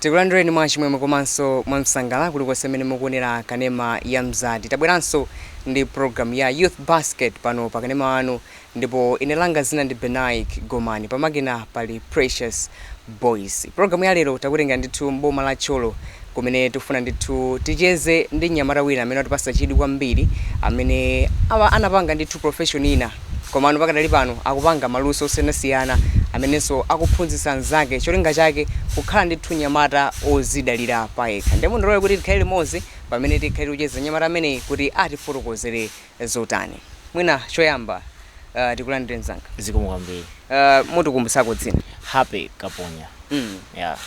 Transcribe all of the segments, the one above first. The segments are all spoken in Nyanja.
Tikulandireni mwachimwemwe komanso mwamsangala kulikonse mmene mukuonera kanema ya Mzati. Tabweranso ndi pulogalamu ya Youth Basket pano pa kanema wanu ndipo ine langa dzina ndi Benaik Gomani. Pamakina pali Precious Boyce. Pulogalamu ya lero takutengera ndithu m'boma la Thyolo kumene tikufuna ndithu ticheze ndi mnyamata wina amene watipatsa chidwi kwambiri amene anapanga ndithu profession ina. Komano pakadali pano akupanga maluso osiyanasiyana amenenso akuphunzitsa anzake cholinga chake kukhala ndithu nyamata ozidalira payekha nde mundilole kuti tikhale limodzi pamene tikhale tikucheza nyamata ameneyi kuti atifotokozere zotani mwina choyamba uh, tikulandire mzanga zikomo kwambiri uh, utikumbutseko dzina Happy Kaponya mm. yeah.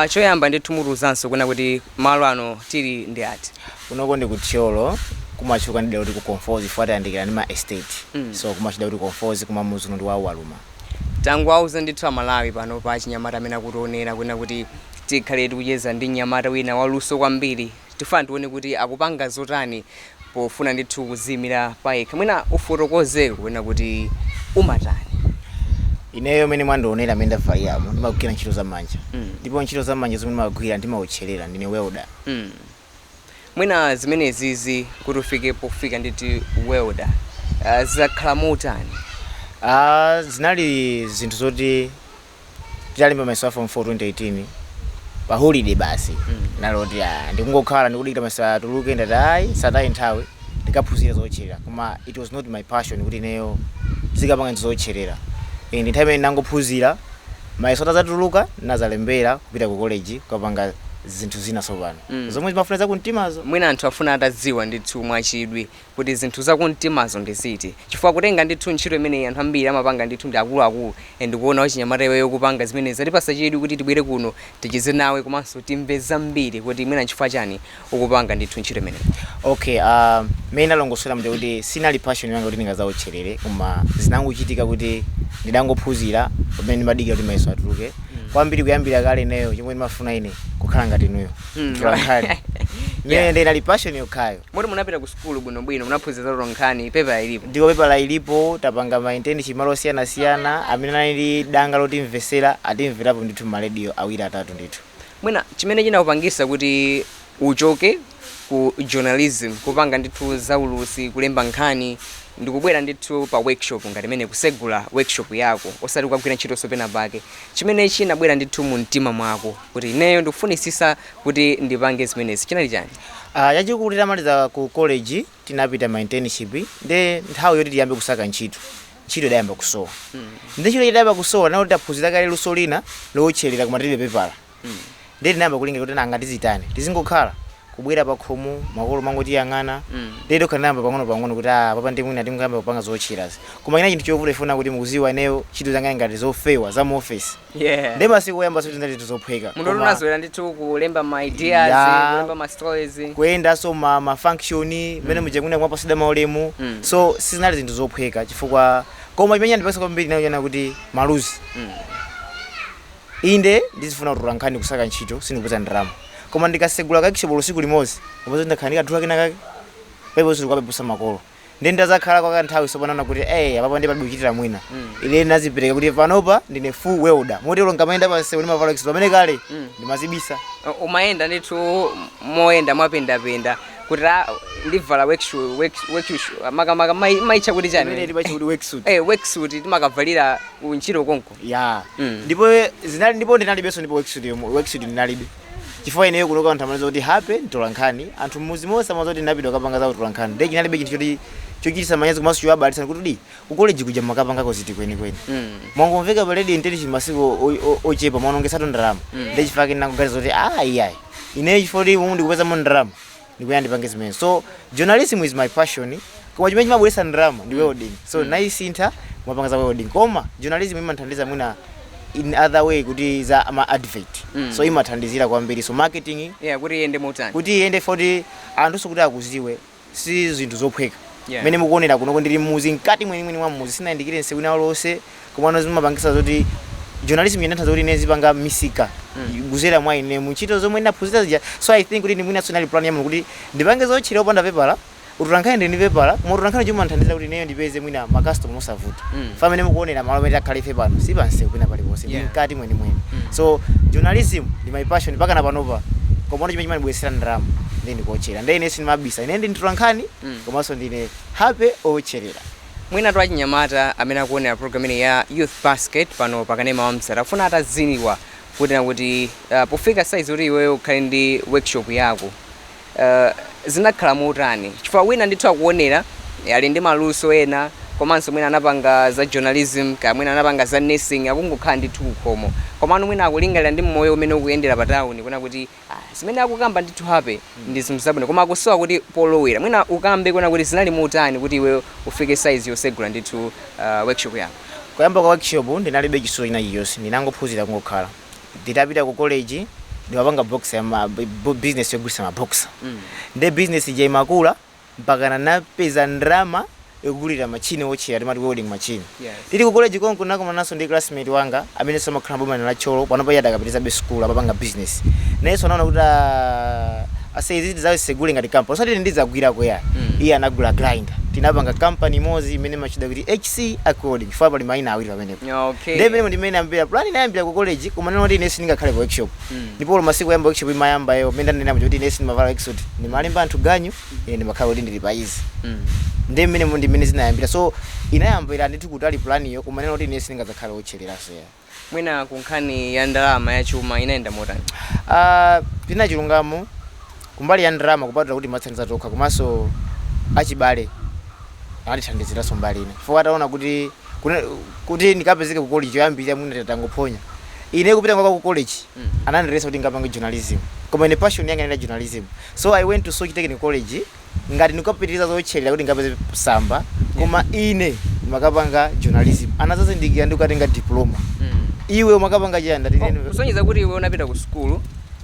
Choyamba ndithu mutiuzenso kunena kuti malo ano tili ndi ati? Kunoko ndi ku Thyolo kumatchuka ndi dera loti ku Conforzi chifukwa tayandikirana ndi ma estate so kumatchedwa kuti Conforzi koma mudzi uno ndi wa Uwaluma. Tangowauza ndithu a Malawi panopa achinyamata amene akutionera kunena kuti tikhale tikucheza ndi mnyamata wina waluso kwambiri. Tifuna tione kuti akupanga zotani pofuna ndithu kuziimira payekha. Mwina ufotokozeko kunena kuti umatani? Ineyo mmene mwandionera mmene ndavaliramu ndimagwira ntchito za manja ndipo ntchito za manja zomwe ndimagwira ndimawotcherera ndine welder. Hmm. Mwina zimenezizi kuti ufike pofika ndithu welder zakhala motani? Aaa zinali zinthu zoti titalemba mayeso a form 4 2018 pa holiday basi ndinaona kuti ah, ndikungokhala ndikudikira mayeso atuluke ndati ayi sataye nthawi ndikaphunzira zootcherera koma it was not my passion kuti ineyo ndizikapanga zootcherera Eh, ndi nthawi imene ndangophunzira mayeso atazatuluka nazalembera kupita ku college kukapanga zinthu zina tsopano Mm. zomwe zimafuna zakumtimazo mwina anthu afuna atadziwa ndithu mwachidwi kuti zinthu za kumtimazo ndi ziti chifukwa kutenga ndithu ntchito imeneyi anthu ambiri amapanga ndithu ndi akuluakulu and kuona wachinyamata iweyo ukupanga zimenezi zatipatsa chidwi kuti tibwere kuno ticheze nawe komanso timve zambiri kuti mwina nchifukwa chani ukupanga ndithu ntchito imeneyi. Okay, uh, mmene ndalongosolera muja kuti sinali passion yanga kuti ndingazawotcherere koma zinangochitika kuti ndidangophunzira pamene ndimadikira kuti mayeso atuluke kwambiri kuyambira kale ineyo chomwe ndimafuna ine kukhala ngati inuyo Mm. mtolankhani Yeah. imene inali passion yokhayo Moti munapita ku sukulu bwinobwino, munaphunzira za utolankhani, pepala ilipo? Ndipo pepala ilipo, tapanga ma internship malo osiyanasiyana, amene anali ndi danga lotimvera atimverapo ndithu mma radio awiri atatu ndithu. Mwina chimene chinakupangitsa kuti uchoke ku journalism, kupanga ndithu zoulutsa, kulemba nkhani, ndikubwera ndithu pa workshop ngati imeneyi, kusegula workshop yako, osati kukagwira ntchitonso penapake, chimene chinabwera ndithu mumtima mwako kuti ineyo ndikufunitsitsa kuti ndipange zimenezi chinali chani? Ah, chachikulu titamaliza ku college tinapita ma internship nde nthawi yoti tiyambe kusaka ntchito, ntchito idayamba kusowa nde ntchito itayamba kusowa nalo tinaphunzira kale luso lina lowotchelera koma tilibe pepala nde tinayamba kulingalira kuti nanga tizitani, tizingokhala? Kubwera pakhomo makolo kumangotiyang'ana nde tokha tinayamba pang'onopang'ono kuti ah, apapa nde mwina tingoyamba kupanga zowotcherazi koma chinali chinthu chovuta chifukwa choti mukuziwa ineyo ntchito zanga ngati zofewa za mu office. Yeah. ndi masiku oyamba sizinali zinthu zophweka munthu Koma unazolera ndithu kulemba ma ideas Yeah. kulemba ma stories kuyendanso ma, ma function mmene muja kunena kumapasida maulemu Mm. so sizinali zinthu zophweka chifukwa koma chimene chandipatsa kwambiri nacho chinali kuti maluzi Mm. inde ndizifuna kutola nkhani kusaka ntchito sindikupeza ndalama koma ndikasegula kashopu tsiku limodzi kupeza ndakhala ndikadula kena kake pompo sindikukavutitsa makolo ndiye nditazakhala kwa kanthawi tsopano ndinaona kuti eh apapo ndiye palibe kuchitira mwina ine ndinazipereka kuti panopa ndine full welder motero nkamayenda pansewu ndimavala suit pamene kale ndimazibisa Uh, umayenda ndithu moyenda mwapendapenda kuti ah, ndivala workshoe- work- workshoe- makamaka mai- maitcha kuti pamene chani timatcha kuti worksuit Eh, worksuit timakavalira kuntchito konko ya Mm. ndipo zinali ndipo ndinalibenso ndipo worksuit yomwe worksuit ndinalibe chifukwa ineyo kunoko anthu amadziwa kuti Happy mtolankhani anthu mmuzi monse amadziwa kuti ndinapita kukapanga za utolankhani ndiye chinali chinthu choti chochititsa manyazi komanso chowabalalitsa kuti kodi ku college kuja mumakapangako ziti kwenikweni mwangomveka pa radio intelligence masiku o- o- ochepa mwaonongetsatu ndalama ndiye chifukwa chake ndinangoganiza kuti ah iyayi ineyo chifukwa kuti umu ndikupezamo ndalama ndikuyenera ndipange zimenezo so journalism is my passion koma chimene chimabweretsa ndalama ndi welding so ndasintha kumapanga za welding koma journalism imandithandiza mwina in other way kuti za ma advert so imathandizira kwambiri so marketing yeah kuti iyende motani kuti iyende foti anthu so kuti akuziwe si zinthu zophweka Yeah. mmene mukuonera kunoko ndili mmuzi mkati mwenimweni mwa mmuzi sindinayandikire nsewu wina uliwonse komano zimapangisa zoti journalism imandithandiza kuti ine ndizipanga misika mm. kuzera mwa ine mu ntchito zomwe ndinaphunzira zija so i think kuti mwina sinali plan ya Mulungu kuti ndipange zowotchera opanda pepala utolankhani ndili ndi pepala koma utolankhani chomwe wanthandizira kuti ineyo ndipeze mwina makastoma mosavuta mm. pamene mukuonera malo amene takhala ife pano si pansewu pena paliponse yeah. ndi mkati mwenimweni mm. so journalism ndi my passion mpakana panopa komano chimene chimandibweretsera ndalama ndi ndi kuotchera ndi ine sindimabisa ine ndi mtolankhani mm. komanso ndine Happy wootcherera Mwinatu achinyamata amene akuonera program ino ya Youth Basket pano pa kanema wa Mzati akufuna atadziwa kunena kuti uh, pofika size kuti iweyo ukhale ndi workshop yako uh, zinakhala motani chifukwa wina ndithu akuonera ali ndi maluso ena komanso mwina anapanga za journalism kaya mwina anapanga za nursing akungokhala ndithu pakhomo komano mwina akulingalira ndi moyo umene ukuyendera pa town kunena kuti Ah zimene akukamba ndithu happy ndi zinthu zabwino koma akusowa kuti polowera mwina ukambe kunena kuti zinali motani kuti iweyo ufike size yosegula ndithu ah workshop yako. Kuyamba kwa workshop ndinalibe chisulo china chilichonse ndinangophunzira kungokhala nditapita ku college ndimapanga boxer business yogulitsa ma boxer nde business ija imakula mpakana ndinapeza ndalama yogulira matchini owotcherera timati welding machine Yes. tili ku college konko ndinakumananso ndi classmate wanga amenenso amakhala boma la Thyolo panopa iye adakapitizabe school amapanga business nayenso anaona kuti ah, ase izi tidzasegule ngati company osati ine ndidzagwirako ya Mm. iye anagula grinder tinapanga company imodzi imene timatchula kuti hc accord chifukwa pali maina awiri pamenepo okay nde mmene ndi mmene inayambira plan inayambira ku college koma ndikunena kuti ine sindingakhale ku workshop ndipo olo masiku oyamba workshop imayambayo mmene ndanena kuti ine sindimavala worksuit ndimalemba anthu ganyu ine ndimakhala kuti ndili pa izi ndi mmene ndi mmene zinayambira so inayambira ndithu kutali planyo koma nena kuti ine sindingadzakhale wotchereranso ya mwina ku nkhani ya ndalama ya chuma inayenda motani Ah, pina chilungamo kumbali ya ndalama kupatula kuti timathandiza tokha komanso achibale atithandiziranso mbali ina chifukwa ataona kuti kuna- kuti ndikapezeke ku college yoyambirira mwina tatangophonya ine kupita kwanga ku college anandiletsa kuti ndikapange journalism koma ine passion yanga inali journalism so i went to soche technical college ngati ndikapitiriza zotcherera kuti ndikapeze tsamba koma ine ndimakapanga journalism anadzazindikira ndikukatenga diploma iwe umakapanga chiyani ndati Oh, ine- kusonyeza kuti iwe unapita ku sukulu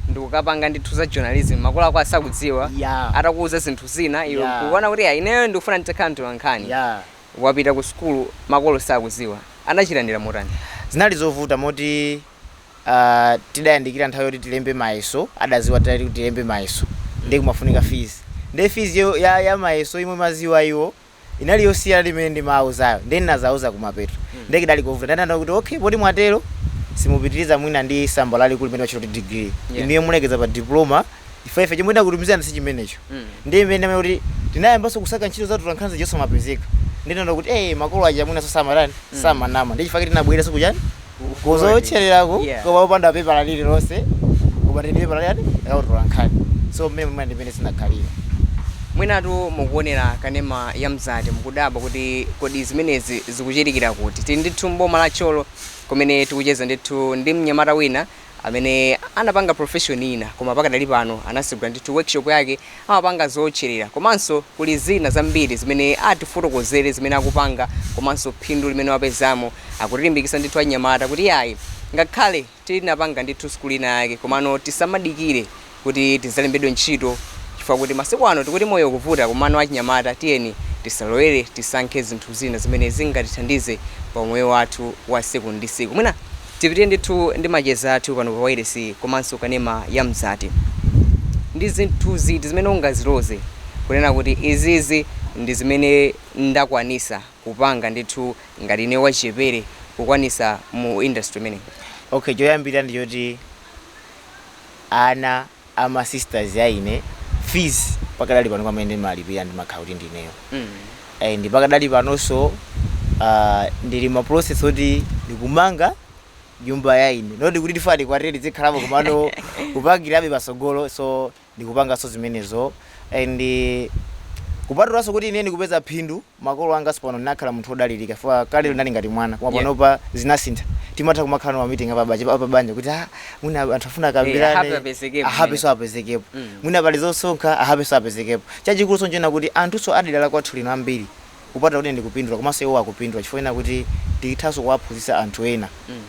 ndikukapanga ndithu za journalism makolo ako asakudziwa Yeah. atakuuza zinthu zina iwe Yeah. ukuona kuti "Ah, ineyo ndikufuna nditakhala mtolankhani Yeah. wapita ku sukulu makolo sakudziwa, anachilandira motani? Zinali zovuta moti tidayandikira nthawi yoti tilembe mayeso adaziwa titati tilembe mayeso ndiye kumafunika fees ndiye feesyo ya mayeso yomwe amadziwa iwo inali yosiyana ndi imene ndimawauzayo ndiye ndinadzawauza kumapeto ndiye kudali kovuta ndiye anandiuza kuti okay poti mwatero simupitiriza mwina ndi tsamba lalikulu limene limatchedwa kuti degree inuyo mulekeza pa diploma chifukwa ife chomwe tidakutumizirani si chimenecho. Ndiye mmene ndanena kuti tinayambanso kusaka ntchito za atolankhani zija osamapezeka. Ndiye tinaona kuti ee makolo aja mwinanso samatani, samanama. Ndiye chifukwa chake tinabwereranso kuchani? Kuzowotchererako koma opanda pepala lililonse koma tili ndi pepala lachani? La utolankhani. So mmene mwina ndi mmene zinakhalira. Mwinatu mukuonera kanema ya Mzati mukudabwa kuti kodi zimenezi zikuchitikira kuti. Tili ndithu m'boma la Thyolo kumene tikucheza ndithu ndi mnyamata wina. amene anapanga profession ina koma pakadali pano anasegula ndithu workshop yake amapanga zootcherera komanso kuli zina zambiri zimene atifotokozere zimene akupanga komanso phindu limene wapezamo akutilimbikitsa ndithu anyamata kuti iyayi ngakhale tinapanga ndithu sukulu ina yake komano tisamadikire kuti tizalembedwe ntchito chifukwa kuti masiku ano tikuti moyo ukuvuta komano achinyamata tiyeni tisalowere tisankhe zinthu zina zimene zingatithandize pa umoyo wathu wa siku ndi siku mwina tipitire ndithu ndi macheza athu pano pa wailesi komanso kanema ya mzati ndi zinthu ziti zimene ungaziloze kunena kuti izizi ndi zimene ndakwanisa kupanga ndithu ngati ineyo wachichepere kukwanisa mu industry imeneyi? Okay choyambirira ndi choti ana a ma sisters a ine fees pakadali pano amene ndimalipira ndimakhala kuti ndineyo and pakadali panonso ah, ndili ma process oti ndikumanga nyumba ya ine not kuti ndifuna ndikwatire ndizikhalapo komano kupangirabe patsogolo so ndikupanganso zimenezo and eh, kupatulanso kuti ine ndikupeza phindu makolo anganso pano ndinakhala munthu odalirika chifukwa kalelo ndinali ngati mwana koma yeah. panopa zinasintha timatha kumakhala ndi ma meeting a pabanja kuti ah, mwina anthu afuna eh, akambirane a Happy-nso apezekepo mm. mwina pali zosonkha a Happy-nso apezekepo chachikulunso n'chonena kuti anthunso a dera la kwathu lino ambiri kupatula kuti ndikupindula komanso iwo akupindula chifukwa ena kuti ndikuthanso kuwaphunzitsa anthu ena mm.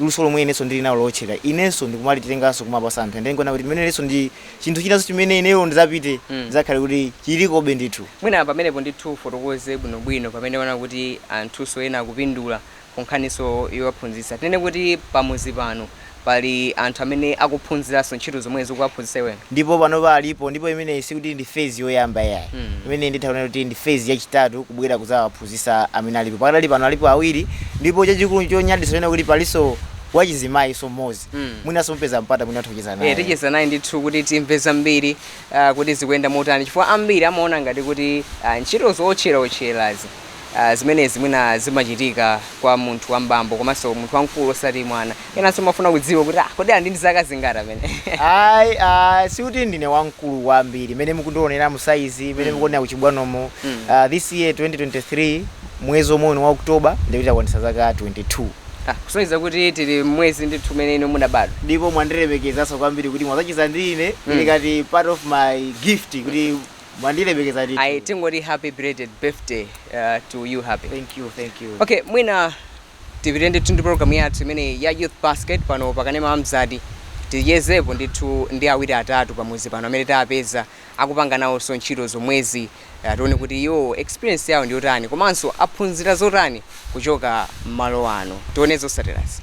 luso lomwe inenso ndili nalo lotchera inenso ndikumalitenganso kumapasa anthu ende ndikuona kuti chimenechonso ndi chinthu chinanso chimene ineyo ndizapite Mm. chizakhale kuti chilikobe ndithu mwina pamenepo ndithu ufotokoze bwinobwino pamene wanena kuti anthunso ena akupindula ku nkhaniso yowaphunzitsa tinene kuti pamuzi pano pali anthu amene akuphunziranso ntchito zomwezi ukuwaphunzitsa iweyo ndipo panopa alipo ndipo imeneyi sikuti ndi phase yoyamba yayi Mm. imeneyi nditha kunena kuti ndi phase yachitatu kubwera kuzawaphunzitsa Aphunzitsa amene alipo pakadali pano alipo awiri ndipo chachikulu chonyaditsa n'chonena kuti palinso wachizimayinso mmodzi mwinanso mupeza mpata mwina mutha kucheza naye. Eee ticheza naye ndithu kuti timve zambiri aah kuti zikuyenda motani chifukwa ambiri amaona ngati kuti aah ntchito zowotcherawotcherazi aah zimenezi mwina zimachitika kwa munthu wambambo komanso munthu wamkulu osati mwana. enanso amafuna kudziwa kuti ah, kodi ali ndi zaka zingati amene ayi ah, sikuti ndine wamkulu kwambiri mene mukundionera m'saizi mene mukuonera kuchibwanomo Ah, this year 2023 mwezi omwe uno wa oktoba ndi kuti ndakwanisa zaka 22 Ah, kusonyeza kuti tili mwezi ndithu umene inu munabadwa ndipo mwandilemekezanso kwambiri kuti mwazacheza ndi ine ili ngati part of my gift kuti mwandilemekeza ndithu. ayi tingoti happy belated birthday uh, to you happy thank you thank you okay mwina Tipite ndithu ndi program yathu imeneyi ya Youth Basket pano pa kanema wa Mzati. Tichezepo ndithu ndi awiri atatu pa mudzi pano amene tawapeza akupanga nawonso ntchito zomwezi. Eh, Tione kuti iwo experience yawo ndi yotani komanso aphunzira zotani kuchoka m'malo ano. Tione zotsatirazi.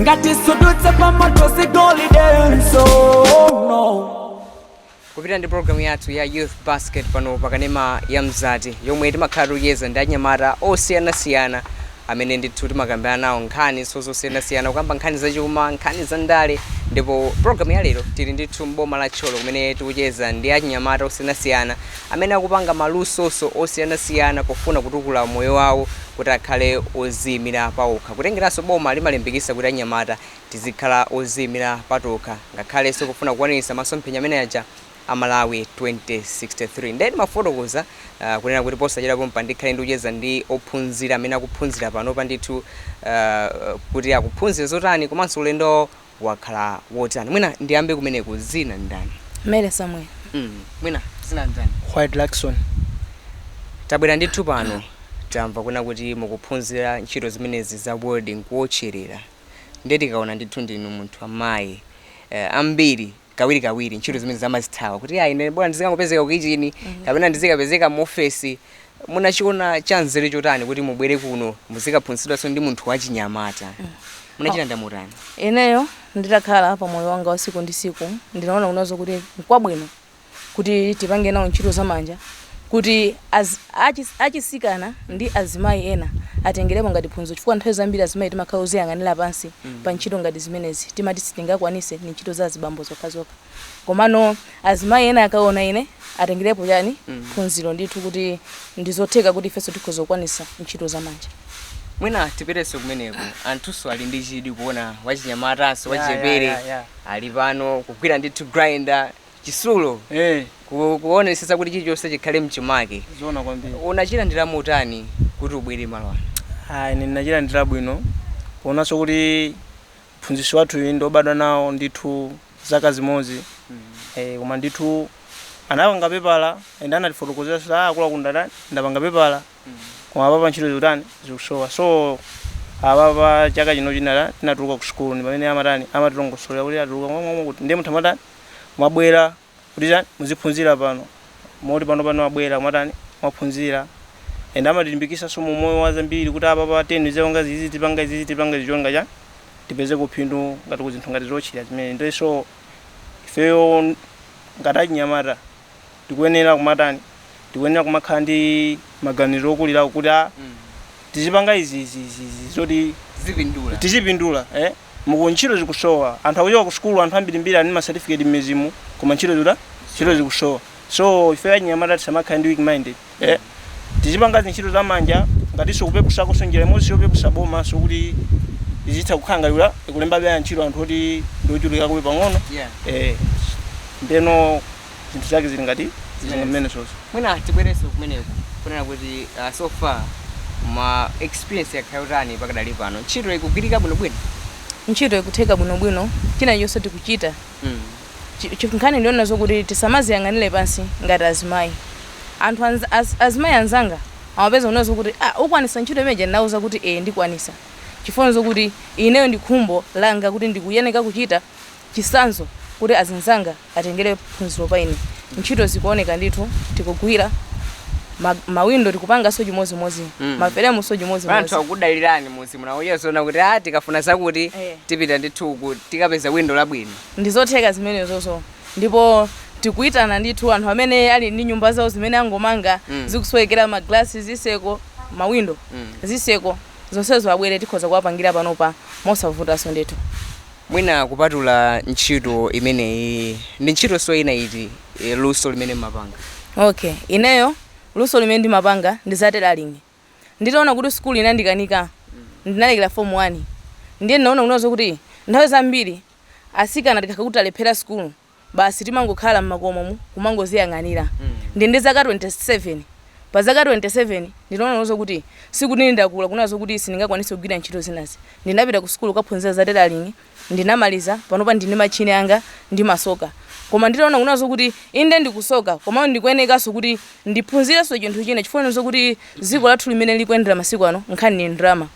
ngati sudutsa pamoto si golidenso kupita ndi programu yathu ya youth basket pano pakanema ya mzati yomwe timakhala tikucheza ndi achinyamata osiyanasiyana amene ndithu timakambirana nawo nkhaniso zosiyanasiyana kukamba nkhani zachuma nkhani za ndale ndipo programu ya lero tili ndithu mboma la Thyolo kumene tikucheza ndi achinyamata osiyanasiyana amene akupanga malusoso osiyanasiyana pofuna kutukula moyo wawo kuti akhale oziyimira paokha kutengeranso boma limalimbikisa kuti anyamata tizikhala oziyimira patokha ngakhalenso kufuna kukwaniritsa masomphenya amene aja a Malawi 2063 nde ndimafotokoza kunena kuti posachedwa pompa ndikhale ndikucheza ndi ophunzira amene akuphunzira panopa ndithu kuti akuphunzira zotani komanso ulendo wawo wakhala wotani? Mwina ndiyambe kumeneko, dzina ndi ndani? Mary Samuel. Hmm, mwina dzina ndi ndani? White Luckson. Tabwera ndithu pano, tamva kunena kuti mukuphunzira ntchito zimenezi za welding, kuwotcherera, ndiye tikaona ndithu ndinu munthu wamayi, eh, ambiri kawirikawiri ntchito zimenezi amazithawa kuti ayi ine bora ndizikangopezeka ku kichini kapena ndizikapezeka mu ofesi munachiona chanzeru chotani kuti mubwere kuno muzikaphunzitsidwanso ndi munthu wachinyamata munachilandira motani ineyo nditakhala pa moyo wanga wa siku ndi siku ndinaona kunena zoti nkwabwino kuti tipange nawo ntchito zamanja kuti achisikana ndi azimayi ena atengelepo ngati phunziro chifukwa nthawi zambiri azimayi timakhala oziyang'anila pansi pa ntchito ngati zimenezi timati sitingakwanise ndi ntchito za azibambo zokhazokha komano azimayi ena akaona ine atengelepo chani phunziro ndithu kuti ndizotheka kuti ifenso tikhoza kukwanisa ntchito za manja mwina tipiteso kumeneko anthuso ali ndi chidwi kuona wachinyamataso Yeah, yeah, wachepere yeah, yeah. ali pano kugwira ndithu grinder chitsulo Eh, ku- kuonetsetsa kuti chilichonse chikhale mchimake zona kwambiri. unachilandira motani kuti ubwere malo ano Ah, ine ndinachilandira bwino. Poonaso kuti mphunzitsi wathu uyu ndobadwa nawo ndithu zaka zimodzi. koma ndithu anapanga pepala ende anatifotokozera kuti ah, akula kunja kuno ndapanga pepala. Koma apapa ntchito zikutani zikusowa. So apapa chaka chino chinali tinatuluka ku school ndi pamene amatani amatilongosolera kuti atuluka momwe kuti ndiye munthu amatani mwabwera kuti chani muziphunzira pano moti pano pano mwabwera mwatani mwaphunzira and amatilimbikitsanso mu moyo wa zambiri kuti apa tenzipanga izi tizipanga izi tizipanga zichonga chani tipezeko phindu ngati kuzinthu ngati zochira zimene ndoiso ifeyo ngati achinyamata tikuyenera kumatani tikuyenera kumakhala ndi maganizo okulirako kuti a tizipanga izi izi izi izi zoti zipindula tizipindula eh? muku ntchito zikusowa anthu akuchoka ku sukulu anthu ambirimbiri ali ndi masatifiketi mmidzimu koma ntchito zikutani ntchito zikusowa so ife achinyamata tisamakhala ndi weak minded eh tizipanga zintchito za manja ngatinso kupepusakonso njira imodzi yopepusa bomanso kuti izitha kukhala ngati kula- ikulemba ntchito anthu oti ndi ochulukirako pang'ono Yeah. eh ndeno zinthu zake zili ngati Zimenezi. zimene zozo mwina tibwerenso kumeneko kunena kuti uh, so far ma experience akhala otani pakadali pano ntchito ikugwirika bwinobwino ntchito ikutheka bwinobwino china chonse tikuchita mm. Chi, chi nkhani ndiyonena zokuti tisamaziyang'anire pansi ngati azimayi. Anthu anz, az, azimayi anzanga amadeza kunena zokuti ah ukwanisa ntchito imeneja ndinawauza kuti ee ndikwanisa. Chifukwa nzokuti ineyo ndi khumbo langa kuti ndikuyeneka kuchita chisanzo kuti azinzanga atengere phunziro pa ine. Ntchito zikuoneka ndithu tikugwira, ma, mawindo tikupanganso chimodzimodzi, Mm. maferemunso Anthu chimodzimodzi. akukudalirani mudzi muno akudziwa zoona kuti ah tikafuna zakuti Eh. tipita ndithu uku tikapeza windo labwino. Ndi zotheka zimenezozo. Ndipo tikuitana ndithu anthu amene ali ndi nyumba zawo zimene angomanga, zikusowekera magalasi, zitseko, mawindo, zitseko, zonsezo abwere tikhoza kuwapangira panopa mosavutanso ndithu. Mwina kupatula ntchito imeneyi, ndi ntchitonso ina iti, luso limene mmapanga? Okay, ineyo luso limene ndimapanga ndi za tailoring. Nditaona kuti sukulu inandikanika, ndinalekera fomu wani. Ndiye ndinaona kunena zokuti nthawi zambiri atsikana tikakhala kuti talephera sukulu, basi timangokhala m'makomomu kumangoziyang'anira. Ndili ndi zaka 27. Pa zaka 27 ndinaona kunena zokuti sikuti ndakula kunena zokuti sindingakwanitse kugwira ntchito zinazi. Ndinapita kusukulu kukaphunzira za tailoring ndinamaliza panopa ndili ndi mashini anga ndimasoka koma nditaona kunazo kuti inde ndikusoka koma ndikuyenekanso kuti ndiphunzirenso chinthu china chifukwa ndizo kuti dziko lathu limene likuyendera masiku ano nkhani ndi ndalama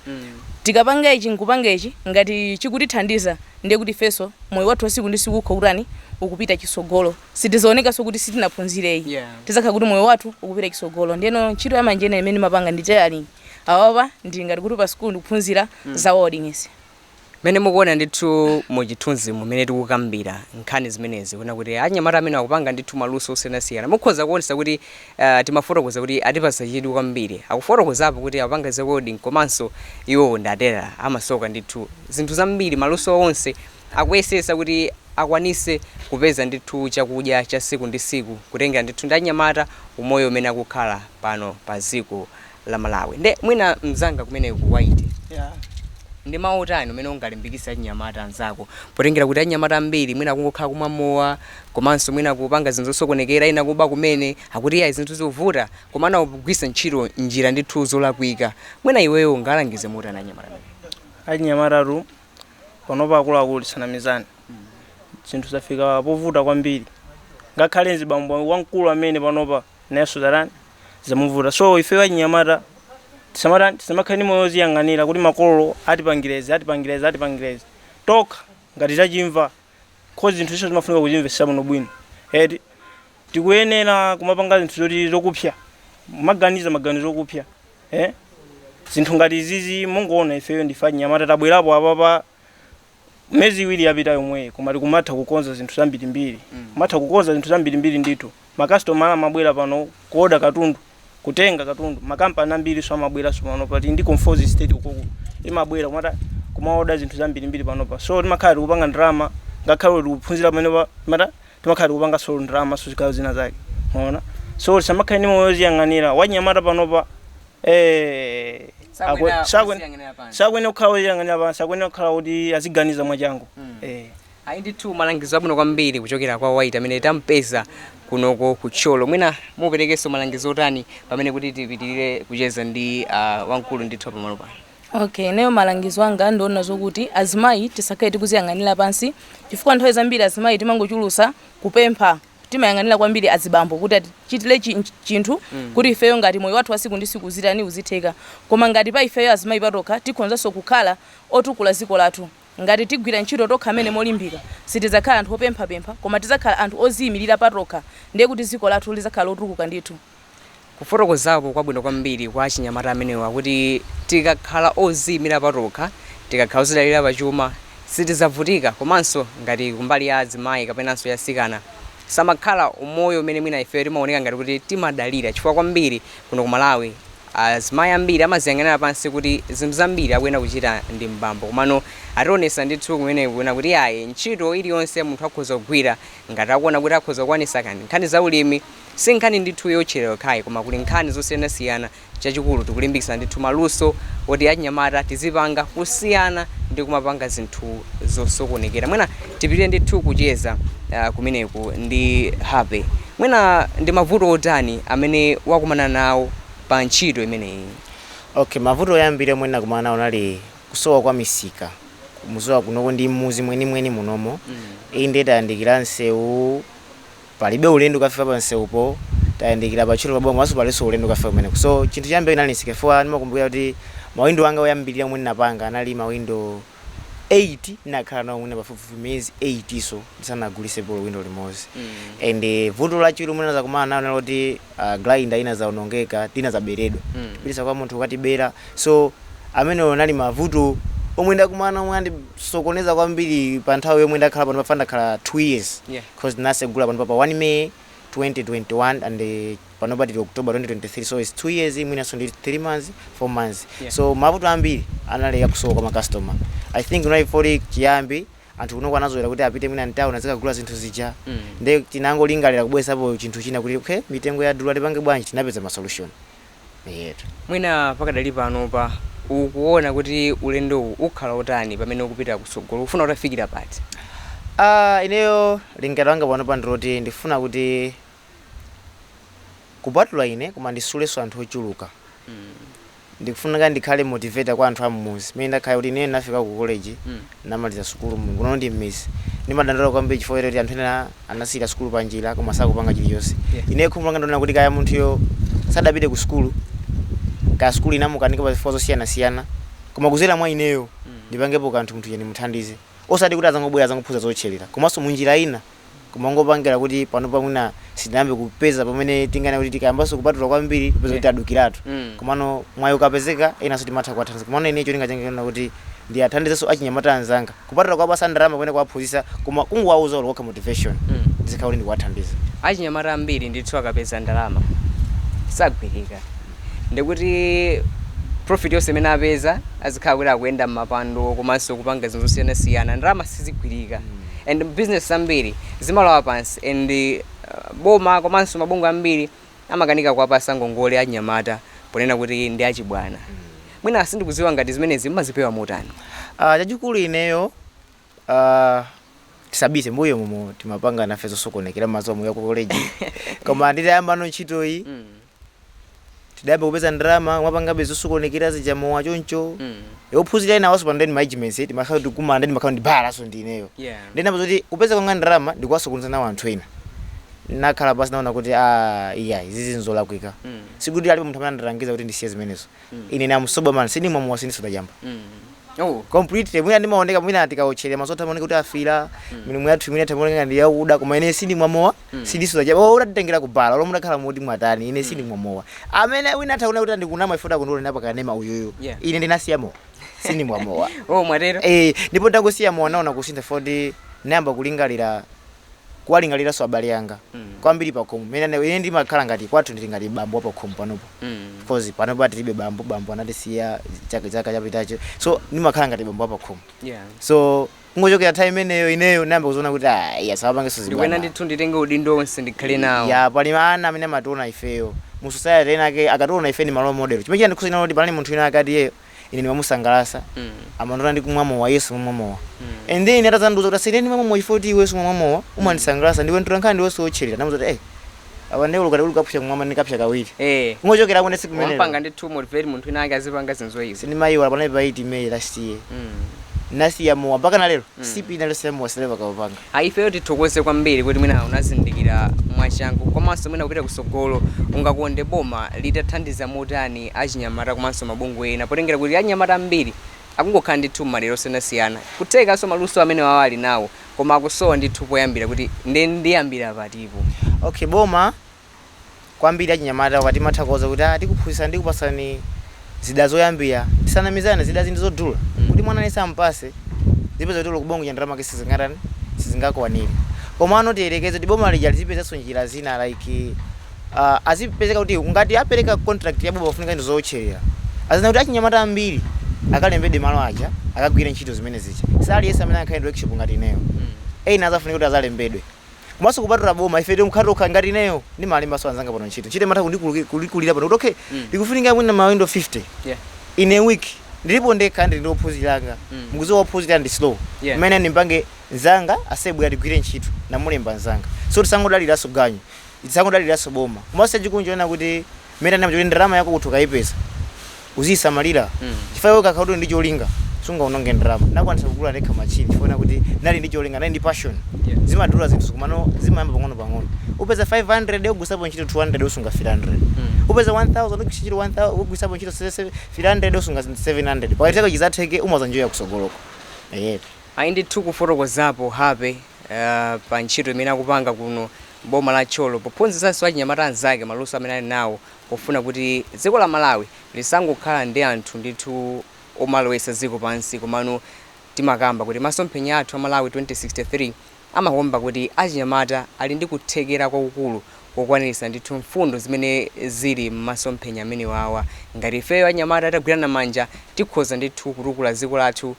tikapanga ichi nkupanga ichi ngati chikutithandiza ndiye kuti ifenso moyo wathu wasiku ndi siku ukhala ukutani ukupita chisogolo sitizaonekanso kuti sitinaphunzireyi Yeah. tizakhala kuti moyo wathu ukupita chisogolo ndiyeno ntchito ya manja imene ndimapanga ndi tailoring awapa ndili ngati kuti pa sikulu ndikuphunzira za welding Mmene mukuona ndithu mu chithunzimu mmene tikukambira nkhani zimenezi kuona kuti anyamata amenewa akupanga ndithu maluso osiyanasiyana mukhoza kuonetsetsa kuti ah, timafotokoza kuti atipatsa chidwi kwambiri. Akufotokozapo kuti akupanga za welding komanso iwowo ndi atelala amasoka ndithu zinthu zambiri maluso awo onse akuyesetsa kuti akwanitse kupeza ndithu chakudya cha tsiku ndi tsiku kutengera ndithu ndi anyamata umoyo umene akukhala pano pa dziko la Malawi. Nde mwina mzanga kumeneko ku right, ndi mau otani umene ungalimbikitse achinyamata anzako potengera kuti achinyamata ambiri mwina akungokhala kumwa mowa komanso mwina kupanga zinthu zosokonekera, ena kuba kumene, akuti iyayi zinthu zikuvuta komano akugwiritsa ntchito njira ndithu zolakwika. Mwina iweyo ungawalangize motani achinyamata amenewa? Achinyamatatu panopa akuluakulu tisanamizane, zinthu zafika povuta kwambiri. Ngakhale mzibambo wamkulu amene panopa nayenso watani, zamuvuta so ifeyo achinyamata tisamata tisamakhale ndi moyo oziyang'anira kuti makolo atipangirezi atipangirezi atipangirezi tokha ngati tachimva cause zinthu izo zimafunika kuzimvetsa bwinobwino eti tikuyenera kumapanga zinthu zoti zokupsa maganiza maganizo okupsa eh? zinthu ngati izizi mungoona ifeyo ndife achinyamata tabwerapo apapa mezi iwiri yapita yomweyi koma tikumatha kukonza zinthu zambirimbiri kumatha kukonza zinthu zambirimbiri ndithu makasitomala amabwera pano kuoda katundu kutenga katundu makampani ambirinso amabweranso pano pali ndi Conforzi Estate ukoko imabwera kumatha kumaoda zinthu zambirimbiri panopa so timakhala tikupanga ndalama ngakhale kuti tikuphunzira pamenepa mata timakhala tikupanganso ndalama so zigawo zina zake mwaona so tisamakhale ndi moyo woziyang'anira wanyamata panopa Eh, akwe- Sakwena sakwe- uziyang'anira pansi. sakuyenera kukhala oziyang'anira pansi akuyenera kukhala kuti aziganiza mwachangu Eh. ayi ndithu malangizo abwino kwambiri kuchokera kwa white amene tampeza kunoko ku Thyolo mwina muperekenso malangizo otani pamene kuti tipitirire kucheza ndi uh, wamkulu ndithu pamalo pano okay ineyo malangizo anga ndiona zokuti azimayi tisakhale tikuziyang'anira pansi chifukwa nthawi zambiri azimayi timangochulusa kupempha timayang'anira kwambiri azibambo kuti atichitire chi- nch- chinthu kuti ifeyo ngati moyo wathu wasiku ndi siku uzitani uzitheka koma ngati pa ifeyo azimayi patokha tikhonzanso kukhala otukula ziko lathu ngati tigwira ntchito tokha amene molimbika sitidzakhala anthu opemphapempha koma tidzakhala anthu oziyimirira patokha ndiye kuti ziko lathu lidzakhala lotukuka ndithu Kufotokozapo kwabwino kwambiri kwa achinyamata amenewa kuti tikakhala odziimira patokha, tikakhala odzidalira pachuma, sitidzavutika komanso ngati kumbali ya azimayi kapenanso ya atsikana, samakhala umoyo umene mwina ifeyo timaoneka ngati kuti timadalira chifukwa kwambiri kuno ku Malawi azimayi ambiri amadziyang'anira pansi kuti zinthu zambiri akuyenera kuchita ndi m'bambo komano ationetsa ndithu kumeneku kuona kuti iyayi ntchito iliyonse munthu akhoza kugwira ngati akuona kuti akhoza kukwanitsa kani nkhani za ulimi Si nkhani ndithu yowotchera yokhayi koma kuli nkhani zosiyanasiyana chachikulu tikulimbikitsa ndithu maluso oti achinyamata tizipanga kusiyana ndi kumapanga zinthu zosokonekera mwina tipitire ndithu kucheza kumeneku ndi Happy mwina ndi mavuto otani amene wakumana nawo pa ntchito imeneyi? Okay mavuto oyambirira omwe ndinakumana nawo unali kusowa kwa misika mukudziwa kunoko ndi m'mudzi mwenimweni munomo inde tayandikira nsewu Palibe ulendo kafika pa msewupo tayandikila pa Thyolo pa boma komanso palinso ulendo kafika kumeneko so chinthu choyambirira chinali nsika chifukwa ndimakumbukila kuti mawindo anga oyambilira omwe ndinapanga anali mawindo 8 ndinakhala nawo mwina pafupifupi miyezi 8 so ndisanagulisepo olo windo limodzi and vuto lachiwiri lomwe ndinazakumana nalo linali loti uh, grinder inazawonongeka tinazaberedwa kupitisa kwa munthu kukatibera so amenewo anali mavuto omwe ndakumana omwe andisokoneza kwambiri pa nthawi yomwe ndakhala pano pafa ndakhala 2 years Yeah. coz tinasegula panopa pa 1 May 2021 and panopa tili October 2023 so its 2 years mwinanso ndi 3 months 4 months Yeah. so mavuto ambiri anali akusowa kwa macustomer i think kunali foti chiyambi anthu kunoko anazolera kuti apite mwina mtauni azikagula zinthu zija Mm. nde tinangolingalira kubweresapo chinthu china kuti okay mitengo ya dula tipange bwanji tinapeza masolution Eetu. Mwina pakadali panopa ukuona kuti ulendowu ukhala otani pamene ukupita kutsogolo? Ukufuna utafikira pati? Aaa ineyo lingaliro langa panopa ndiloti ndifuna kuti kupatula ine koma nditsulenso anthu ochuluka mm ndikufunika ndikhale motivator kwa anthu ammuzi mmene ndakhala kuti ineyo ndinafika ku college mm Ndinamaliza sukulu kuno ndi m'midzi. Ndimadandaula kwambiri chifukwa choti anthu ena anasiyira sukulu panjira koma sakupanga chilichonse. Yeah. Ineyo khumbo langa ndi lonena kuti kaya munthuyo sadapite ku sukulu, kaya sukulu inamukanika pa zifukwa zosiyanasiyana, koma kudzera mwa ineyo ndipangepo kanthu munthu uja ndimuthandize. Osati kuti adzangobwera adzangophunzira zowotcherera. Komanso mu njira ina kumangopangira kuti panopa mwina sitinayambe kupeza pamene tinganene kuti tikayambanso kupatula kwambiri tipeza kuti tadukiratu Mm. komano mwayi ukapezeka enanso timatha kuwathandiza komano ine cholinga changa chonena kuti ndiwathandizenso achinyamata anzanga kupatula kuwapasa ndalama kapena kuwaphunzitsa koma kungowauza olo kokha motivation Mm. ndizikhala kuti ndikuwathandiza achinyamata ambiri ndithu akapeza ndalama sagwirika ndi kuti profit yonse imene apeza azikhala kuti akuyenda m'mapwando komanso kupanga zinthu zosiyanasiyana ndalama sizigwirika and business zambiri zimalowa pansi and boma komanso mabungwe ambiri amakanika kuwapasa ngongole achinyamata ponena kuti ndi achibwana. Mwina sindikudziwa ngati zimenezi mumazipewa motani? Ah, chachikulu ineyo ah, tisabise m'mbuyomumo timapanga nafe zosokonekera mazomo ya ku college koma nditayambano ntchito iyi tidayamba kupeza ndalama kumapangabe zosokonekera zija mowa choncho Mm. Eh, ophunzira ena awanso pa ndeni management eh, timakhala tikumana ndi timakhala ndi balanso ndi ineyo Yeah. ndinayamba zoti kupeza kwanga ndalama ndikuwasokoneza nawo anthu ena nakhala pansi naona kuti ah iya izizi nzolakwika Mm. sikuti alipo munthu amene anandilangiza kuti ndisiye zimenezo ine namsoba man sindimwa mowa sindisuta chamba Oh, completely mwina ndimaoneka mwina tikawotcherera masota amaoneka kuti afiira milomo yathu mwina kumaoneka ngati yakuda koma ine sindimwa mowa sindisuta chamba oh utanditengera kubala olo mutakhala moti mwatani ine sindimwa mowa amene wina ataona kuti ndikunama ifuna kundiona pa kanema uyuyu Yeah. ine ndinasiya mowa sindimwa mowa oh mwatero eh ndipo ndangosiya mowa naona kusintha moti nayamba kulingalira kuwalingaliranso abale anga mm. kwambiri pakhomo mene ine ndimakhala ngati kwathu ndili ngati bambo wapakhomo panopo mm. because panopo tilibe bambo bambo anatisiya chaka chaka chapitacho so ndimakhala ngati bambo wapakhomo yeah. so kungochokera nthawi imeneyo ineyo nayamba kuziona kuti ah, iya ndisapangenso ndikuyenera ndithu nditenge udindo onse ndikhale nawo ya pali ana amene amationa ifeyo mu society ena ake akationa ife ndi ma role model chimene chandikhuza kuti pali munthu ina akati yeyo ine ndimamusangalatsa Mm. amandiona ndikumwa mowa yes ukumwa mowa Mm. and then atazandiuza kuti asiyeni kumwa mowa chifukwa kuti iwe sumamwa mowa umandisangalatsa ndiwe mtolankhani ndiwe wowotcherera ndamuza kuti eh apa ndiye ukuti ndikapsa kumwamba ndikapsa kawiri Eh. kungochokera tsiku limenelo wandipanga indeed to motivate munthu wina ake azipanga zinthu izi. sindimayiwala panayi pa 8 may last year Mm. nasiya mowa mpaka na lero sip ya mowa sindinaupange Ayi ifeyo tithokoze kwambiri kuti mwina unazindikira mwachangu komanso mwina kupita kusogolo ungakonde boma litathandiza motani achinyamata komanso mabungwe ena potengera kuti achinyamata ambiri akungokhala ndithu mmadera osiyanasiyana kuthekanso maluso amenewawa ali nawo koma akusowa ndithu poyambira kuti nde ndiyambira pati po. Okay boma kwambiri achinyamata akuti amatha kuwauza kuti ah tikuphunzitsa ndi kukupasani zida zoyambira tisanamizane zidazi ndi zodula mm. kuti mwana aliyense ampase zipezeka kuti kubongo cha ndalama ke sizingatani sizingakwanire komano tiyerekeze kuti boma lija lizipezanso njira zina like uh, azipezeka kuti ngati apereka contract ya boma kufunika ndi zootcherera aziona kuti achinyamata ambiri akalembedwe malo aja akagwire ntchito zimene zija si aliyense amene angakhale ndi workshop ngati ineyo mm. ena azafunika kuti azalembedwe komanso kupatula boma ife tokhatokha ngati ineyo ndimalembanso anzanga pano ntchito ntchito imatha kundikulu- kundikulira pano kuti okay Mm. ndikufunika mwina mawindo 50 Yeah. in a week ndilipo ndekha ndili ndi ophunzira anga Mm. mukuziwa ophunzira ndi slow Yeah. mmene ndimpange nzanga abwere tigwire ntchito namulemba nzanga so tisangodaliranso ganyu tisangodaliranso boma komanso chikuonja china kuti mmene ndanenamo kuti ndalama yako kuti ukaipeza uziyisamalira chifukwa iwe ukakhala kuti uli ndi cholinga sungaononge ndalama ndakwanisa kugula ndekha machine chifukwa china kuti ndinali ndi cholinga ndinali ndi passion zimavuta zinthu komano zimayamba pang'ono pang'ono upeza 500 ugwilisapo ntchito 200 usunga 300 upeza 1000 ugwilisa ntchito 1000 ugwilisapo ntchito 300 usunga 700 pakati pako chizatheke umazanjoya kusogoloko eyetu Ayi ndithu kufotokozapo Happy uh, pa ntchito imene akupanga kuno m'boma la Thyolo pophunzitsanso achinyamata anzake maluso amene ali nawo pofuna kuti dziko la Malawi lisangokhala ndi anthu ndithu omalowetsa dziko pansi komano timakamba kuti masomphenya athu a Malawi 2063 amakamba kuti achinyamata ali ndi kuthekera kwakukulu kokwaniritsa ndithu mfundo zimene zili mmasomphenya amenewawa. Ngati ifeyo anyamata titagwirana manja tikhoza ndithu kutukula dziko lathu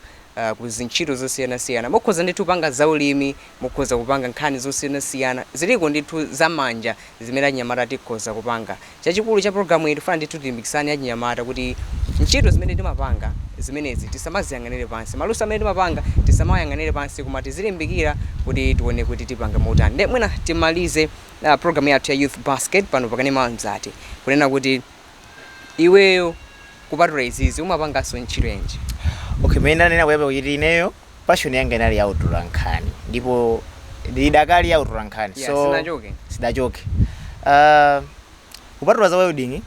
ku zintchito zosiyanasiyana mukhoza ndithu kupanga zaulimi, Mukhoza kupanga nkhani zosiyanasiyana. Ziliko ndithu za manja zimene achinyamata tikhoza kupanga. Chachikulu cha program iyi tikufuna ndithu tilimbikitsane achinyamata kuti ntchito zimene timapanga zimenezi tisamaziyang'anire pansi. Maluso amene timapanga tisamawayang'anire pansi koma tizilimbikira kuti tione kuti tipanga motani. Nde mwina timalize program yathu ya Youth Basket pano pa Kanema wa Mzati kunena kuti iweyo kupatula izizi umapanganso ntchito yanji? Okay, mmene ndanenera koyambirira kuti ineyo. Passion yanga inali ya utolankhani ndipo ndidakali ya utolankhani Yeah, so sidachoke. sidachoke. Ah, kupatula za welding,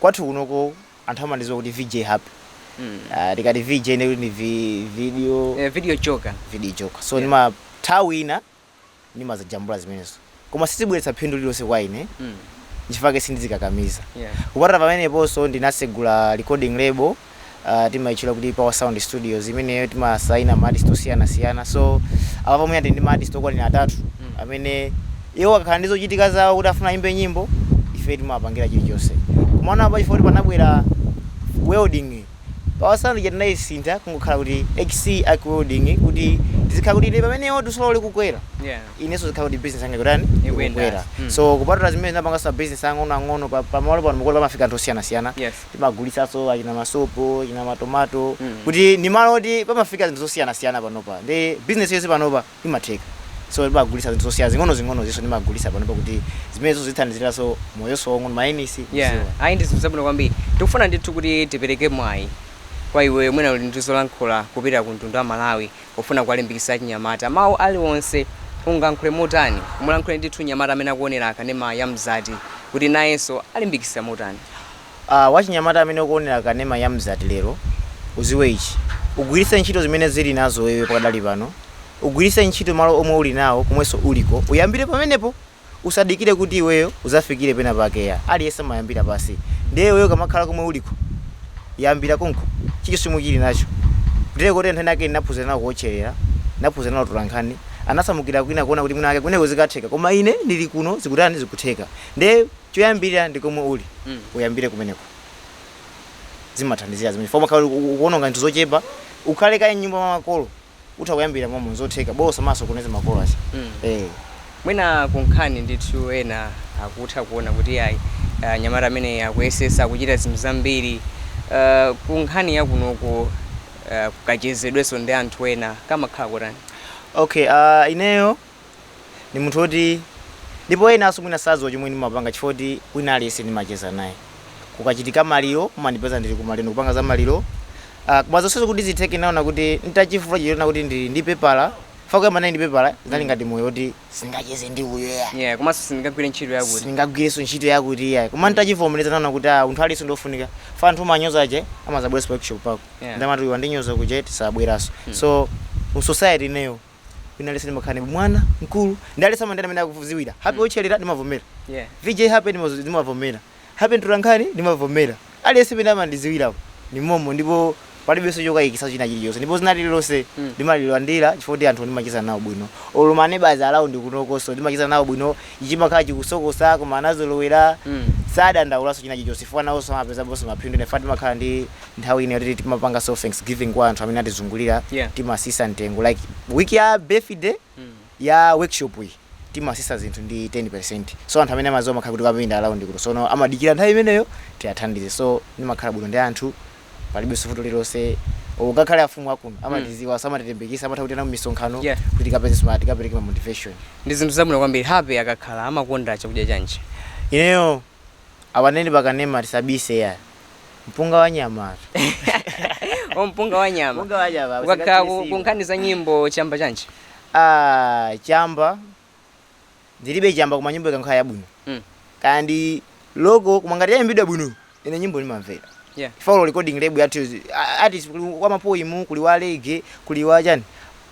kwathu kunoko anthu amandidziwa kuti VJ Happy. Mm. Ah, tikati VJ ndekuti ndi vi- video Eh, video joker. video joker. So Yeah. ndimati nthawi ina ndimazijambula zimenezo koma sizibweretsa phindu lililonse kwa ine Mm. nchifake sindizikakamiza Yeah. kupatula pamenepo so ndinasegula recording label uh, timaitchula kuti power sound studios imene timasaina maartist osiyanasiyana so apa pamene ndi ndi maartist okwanira atatu Mm. amene iwo akakhala ndi zochitika zawo kuti afuna ayimbe nyimbo ife timawapangira chilichonse koma apa chifukwa kuti panabwera welding Power Sound ija tinaisintha kungokhala kuti XE Arc Welding kuti tizikhala kuti ine pamene iwo dusolo likukwera Yeah. inenso zikhala kuti business yanga ikutani Ikuyendanso. ikukwera Mm. so kupatula zimenezi ndimapanganso ma business ang'ono ang'ono pa pa malo pano mukuona pamafika anthu osiyana siyana Yes. timagulitsanso achina masopo achina matomato Mm. poti ndi malo oti pamafika zinthu zosiyana siyana panopa ndi business yonse panopa imatheka so timagulisa zinthu zosiya zing'onozing'onoziso timagulisa panopa kuti zimenezo zithandiziraso moyoso waung'ono mayenisi yeah ayi ndi zinthu zabwino kwambiri tikufuna ndithu kuti tipereke mwayi kwa iweyo mwina uli ndi zolankhula kupita ku mtundu wa malawi pofuna kuwalimbikitsa achinyamata mawu aliwonse ungankhule motani umulankhule ndithu nyamata amene akuonera kanema ya mzati kuti nayenso alimbikitsike motani Aaa wachinyamata amene ukuonera kanema ya Mzati lero uziwe ichi ugwiritse ntchito zimene uli nazo iweyo pakadali pano ugwiritse ntchito malo omwe uli nawo komwenso uliko uyambire pamenepo usadikire kuti iweyo uzafikire pena pake ayi aliyense amayambira pasi ndiye iweyo ukamakhala komwe uliko yambira konko chilichonse chomwe uli nacho ndiye kuti anthu enaake ndinaphunzira nawo kuotcherera ndinaphunzira nawo utolankhani anasamukira kwina kuona kuti mwina mwake kumeneko zikatheka koma ine ndili kuno zikutani zikutheka ndiye choyambirira ndi komwe uli uyambire kumeneko zimathandiza zimenezo chifukwa umakhala uli- u- ukuononga zinthu zochepa ukhale kaye mnyumba mwa makolo utha kuyambira momo nzotheka bola usawasowetse makolo acha eh mwina kunkhani ndithu ena akutha kuona kuti ayi ah, nyamata amene akuyesesa kuchita zinthu zambiri Ah, kunkhani yakunoko ah, kukachezedwenso ndi anthu ena kamakhala kotani okay uh, ineyo ndi munthu oti ndipo enanso mwina sadziwa chomwe ndimapanga chifukwa kuti wina aliyense ndimacheza naye kukachitika maliro mumandipeza ndili kumaliro ndikupanga za maliro uh, koma zonsezo kuti zitheke ndinaona kuti nditachifufuta choona kuti ndili ndi pepala fa poyamba ndinali ndi pepala zinali ngati moyo kuti sindingacheze ndi uyo ya yeah komanso sindingagwire ntchito yakuti sindingagwirenso ntchito yakuti iyayi koma ntachivomereza ndinaona kuti ah, munthu aliyense ndiofunika fa anthu umanyoza aja amazabweranso pa workshop pako Yeah. nkumati uyu wandinyoza kuja tisabweranso so mu society ineyo wina aliyense ndimakhala ngati mwana mkulu ndi aliyense amandiitana mmene akundiziwira happy otcherera ndimavomera Yeah. vj happy ndimazo- ndimavomera happy mtolankhani ndimavomera aliyense mmene amandiziwirapo ni momo ndipo palibenso chokayikisa china chilichonse ndipo dzina lililonse Mm. ndimalilandira chifukwa kuti anthu ndimacheza nawo bwino olo ma neighbours around kunokonso ndimacheza nawo bwino ichimakhala chikusokosa koma anazolowera Mm. sadandaulaso china chilichonse chifukwa nawonso amapezaponso maphindu ndiye ife timakhala ndi nthawi ina yoti timapangaso thanks giving kwa anthu amene atizungulira yeah. timasisa mtengo like week ya birthday mm. ya workshop iyi timasisa zinthu ndi 10% so anthu amene amaziwa amakhala kuti akapindula around kuno so no, amadikira nthawi imeneyo tiathandize so ndimakhala bwino ndi anthu palibeso vuto lililonse ungakhale afumu akuno hmm. amatiziwa mm. amatilemekeza amatha kutiitana mu misonkhano yeah. kuti tikapezeke timakapereka ma motivation ndi zinthu zabwino kwambiri happy akakhala amakonda chakudya chanji ineyo Apa nde ndi pakanema tisabise eya. Mpunga wa nyama atu. Oh, mpunga wa nyama. Mpunga wa nyama. Ukakhala ku- usakathirisire. kunkhani za nyimbo chamba chanji. Ah, chamba. Ndilibe chamba koma nyimbo ikakhala yabwino. Mm. Kaya ndi local koma ngati yayimbidwa bwino ine nyimbo ndimamvera. Yeah. For olo recording label yathu izi. A- artist kuli wa mapoimu, kuli wa reggae, kuli wa chani.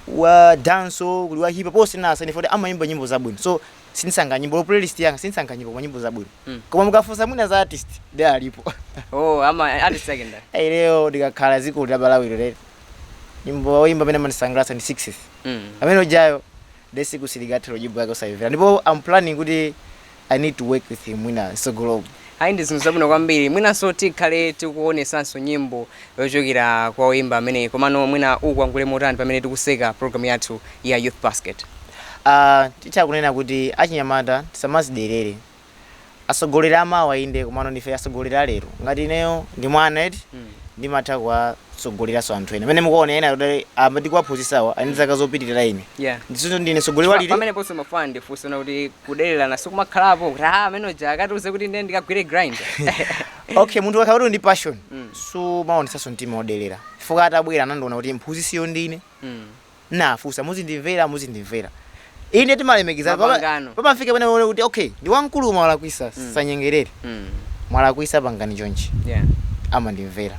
Wa dancehall, kuli wa hip hop, onsewa as long oti amayimba nyimbo zabwino. So sindisankha nyimbo olo playlist yanga sindisankha nyimbo koma nyimbo zabwino Mm. koma mukafunsa mwina za artist nde alipo oh ama artist ake ndani Ai, ineyo ndikakhala mziko la Malawi lero nyimbo oyimba amene amandisangalatsa ndi 6 mm. amene ujayo day sikuti ingathe nyimbo yake osayimvera ndipo am planning kuti i need to work with him mwina nsogolomo ayi ndi zinthu zabwino kwambiri mwinanso tikhale tikuonesanso nyimbo yochokera kwa oyimba ameneyi komano mwina tikumangire motani pamene tikuseka program yathu ya youth basket Aaa titha kunena kuti achinyamata tisamazidelele asogoleri amawa inde komano ndife asogoleri alero ngati ineyo ndi mwana eti ndimatha kuwasogoleraso anthu ena mene mukuona ena kuti amene ndikuwaphunzisawa ali ndi zaka zopitilira ine yeah ndiye so ndine sogoleri Pa- walili pamene ponse mafuna ndifunse kuti kudelelana sikumakhalapo kuti ah amene uja akatiuze kuti ndiye ndikagwire grind okay munthu akakhala kuti ndi passion Mm. sumaonetsanso mtima wodelera chifukwa atabwera anandiona kuti mphunzisiyo ndine Mm. ndinafunsa muzindimvera muzindimvera inde timalemekeza Mapangano. pamafika pena pomwe kuti okay ndi wamkulu koma walakwisa Mm. sindinyengerera Mm. mwalakwisa pangani chonchi Yeah. amandimvera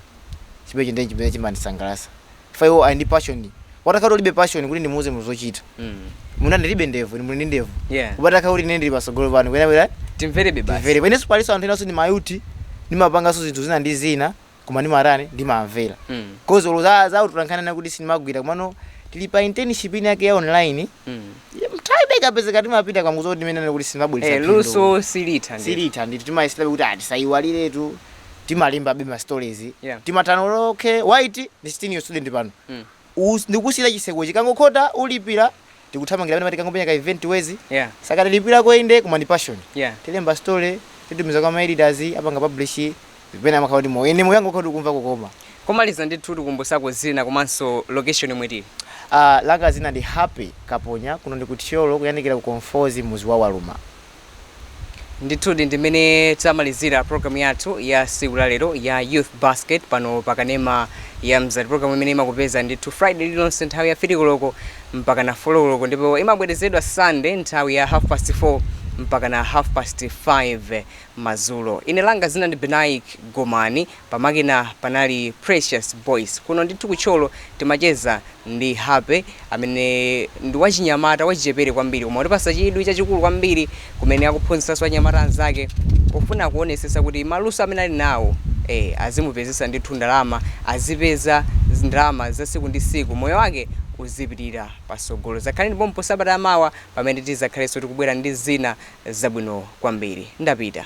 chimenecho ndiye chimene chimandisangalasa chifukwa iwo ali ndi passion watakhala kuti ulibe passion kuti ndimuuze munthu zochita Mm. mwina ndilibe ndevu inu muli ndi ndevu Yeah. koma atakhala kuti ine ndili patsogolo pano koyenera koyenera timverebe basi timvere ineso palinso anthu enanso ndi mayuti ndimapanganso zinthu zina ndi zina koma ndimatani ndimamvera Mm. coz olo za za utolankhani kuti sindimagwira komano tili pa internship ina yake ya online Mm. nthawi ikapezeka timapita konko zoti mmene kuti Eh, sindimabwelesa luso silitha ndi silitha ndithu timayeserabe kuti tisayiwaliretu timalimbabe ma stories Yeah. timatana okay white ndi senior student pano Mm. Us- ndikusiyira chiseko chikangokhota ulipira tikuthamangira pamene mati kangopenya ka event wezi Yeah. sakatilipirako inde koma ndi passion Yeah. tilemba story titumiza kwa maeditors apanga publish pena amakhala kuti moyo ine moyo wanga ukhati ukumva kukoma pomaliza ndithu tikumbusako zina komanso location yomwe tili uh, langa zina ndi happy kaponya kuno ndi ku Thyolo kuyandikira ku conforzi muzi wa waluma ndithudi ndi mmene tamalizira program yathu ya siku la lero ya youth basket pano pa kanema wa mzati program imene imakupeza ndithu friday lililonse nthawi ya fili koloko mpaka na folo koloko ndipo imabwerezedwa sunday nthawi ya half past 4 mpaka na half past 5 mazulo ine langa zina ndi benaik gomani Pamakina panali Precious Boyce. Kuno ndithu ku Thyolo timacheza ndi Happy amene ndi wachinyamata wachichepere kwambiri koma watipatsa chidwi chachikulu kwambiri kumene akuphunzitsanso anyamata anzake kufuna kuonetsetsa kuti maluso amene ali nawo ee azimupezetsa ndithu ndalama azipeza ndalama za tsiku ndi tsiku moyo wake uzipitira patsogolo. Dzakhaleni pompano sabata ya mawa pamene tidzakhalenso tikubwera ndi zina zabwino kwambiri. Ndapita.